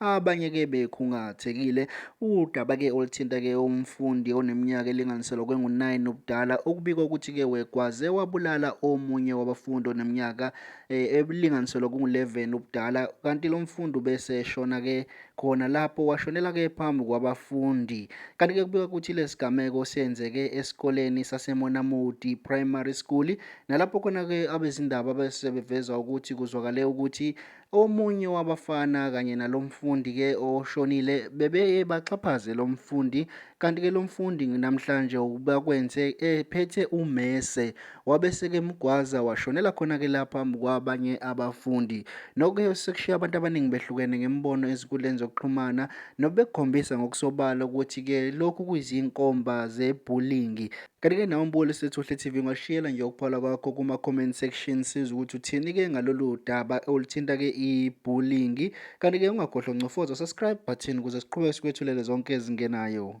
Abanye ke bekhungathekile udaba ke oluthinta ke umfundi oneminyaka elinganiselwa kwengu-9 ubudala okubikwa ukuthi ke wegwaze wabulala omunye wabafundi oneminyaka eh, elinganiselwa kungu-11 ubudala kanti lo mfundi ubeseshona ke khona lapho washonela ke phambi kwabafundi kanti ke kubikwa ukuthi lesigameko senzeke esikoleni saseMonamodi Primary School nalapho khona ke abezindaba bese beveza ukuthi kuzwakale ukuthi Omunye wabafana kanye nalo mfundi-ke oshonile bebeye baxhaphaze lo mfundi kanti-ke lo mfundi namhlanje ubakwenze ephethe umese wabeseke mgwaza washonela khona-ke la phambi kwabanye abafundi. Noke sekushiya abantu abaningi behlukene ngemibono ezinkundleni zokuxhumana nobekukhombisa ngokusobala ukuthi-ke lokhu kuyizinkomba zebhulingi Kanti-ke nawe Mboli Sethuhle TV ungashiyela nje ukuphola kwakho kuma-comment section siza ukuthi uthini-ke ngalolu daba oluthinta-ke i-bullying. Kanti-ke ungakhohlwa ncofoza subscribe button ukuze siqhubeke sikwethulele zonke ezingenayo.